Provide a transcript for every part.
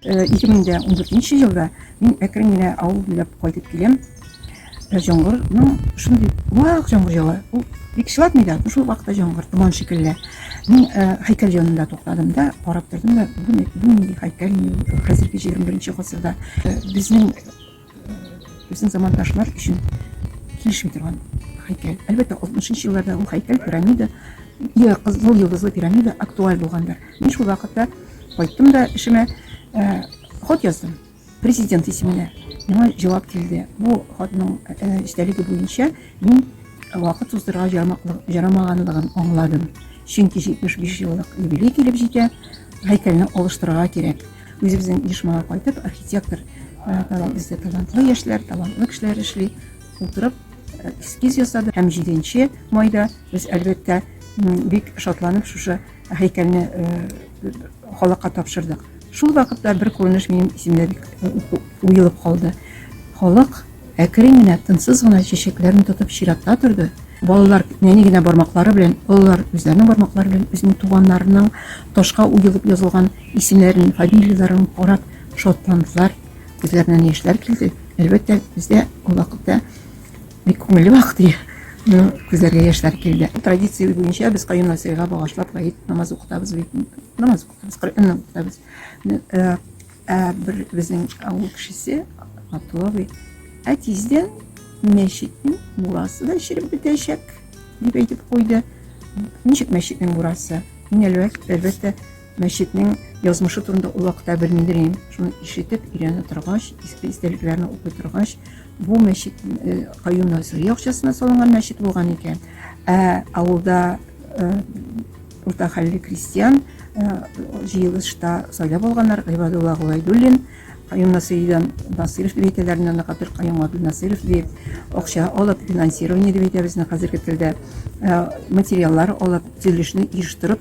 2014 елда мин әкрен генә авыл буйлап кайтып киләм. Җоңгырның шундый вак җоңгыр ява. Ул бик чылатмый да, шул вакытта җоңгыр томан шикелле. Мин һәйкәл янында туктадым да, карап тордым да, бу нинди һәйкәл, хәзерге 21 гасырда безнең Безнең замандашлар өчен килешми торган һәйкәл. Әлбәттә, 60 нчы елларда ул һәйкәл, пирамида, я кызыл йолдызлы пирамида актуаль булгандыр. Мин шул вакытта кайттым да эшемә э, хат яздым президент исеменә. Миңа җавап килде. Бу хатның э, эчтәлеге буенча мин вакыт суздырга ярамаганлыгын аңладым. Чөнки 75 еллык юбилей килеп җитә, һәйкәлне алыштырырга кирәк. Үзебезнең оешмага кайтып, архитектор талант бездә талантлы яшьләр, талантлы кешеләр эшли. Утырып эскиз ясады һәм 7 майда без әлбәттә бик шатланып шушы һәйкәлне халыкка тапшырдык. Шул вакытта бер күренеш минем исемдә бик уелып калды. Халык әкрен генә, тынсыз гына чәчәкләрен тотып чиратта торды. Балалар нәни генә бармаклары белән, олылар үзләренең бармаклары белән үзенең туганнарының ташка уелып язылган Исемнәрен, фамилияләрен карап шатландылар, күзләреннән яшьләр килде. Әлбәттә, бездә ул вакытта бик күңелле вакыт иде. Ну, күзләргә яшьләр килде. Традиция буенча без Каюм Насыйрига багышлап гает намаз укытабыз бит. Намаз укытабыз, Коръән укытабыз. Ну, э, э, бер безнең авыл кешесе Атловый. Ә тиздән мәчетнең мурасы да эчелеп бетәчәк, дип әйтеп куйды. Ничек мәчетнең мурасы? Мин әлбәт- әлбәттә Мәчетнең язмышы турында ул вакытта белмидер идем. Шуны ишетеп, өйрәнә торгач, иске истәлекләрне укый торгач, бу мәчет э, Каюм Насыйри акчасына салынган мәчет булган икән. Ә авылда э, урта хәлле крестьян э, җыелышта сайлап алганнар Гыйбадулла Гулайдуллин, Каюм Насыйридан Насыйров дип әйтәләр, моннан кадәр Каюм Абдул Насыйров дип акча алып, финансирование дип әйтәбез, хәзерге телдә материаллар алып, төзелешне оештырып,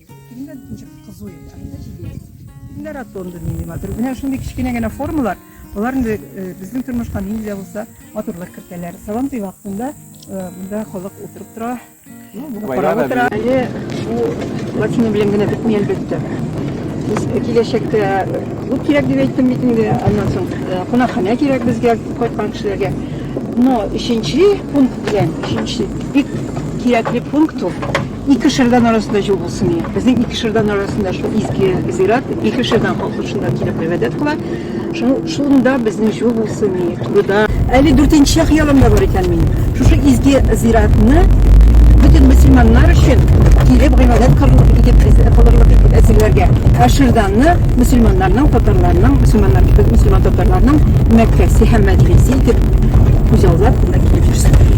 Килендә ничек кызу инде, анда җибәрәбез. Килендә ротонда нинди матур. Менә шундый кечкенә генә формалар, алар инде безнең тормышка нинди дә булса матурлык кертәләр. Сабантуй вакытында монда халык утырып тора, карап утыра. Әле шул плотина белән генә бетми, әлбәттә. Без киләчәктә клуб кирәк дип әйттем бит инде, аннан соң кунакханә кирәк безгә кайткан кешеләргә. Но өченче пункт белән, өченче бик кирәкле пункт ул. Ике шырдан арасында җул булсын иде. Безнең ике шырдан арасында шул изге зират, ике шырдан халкы шунда килеп гыйбадәт кыла. Шул шунда безнең җул булсын иде. Турыда әле дүртенче хыялым да бар икән минем. Шушы изге зиратны бөтен мөселманнар өчен килеп гыйбадәт кылырлык итеп кылырлык итеп әзерләргә. Ә шырданны мөселманнарның, татарларның, мөселманнар кебек мөселман татарларның Мәккәсе һәм Мәдинәсе итеп күзаллап кына килеп йөрсен.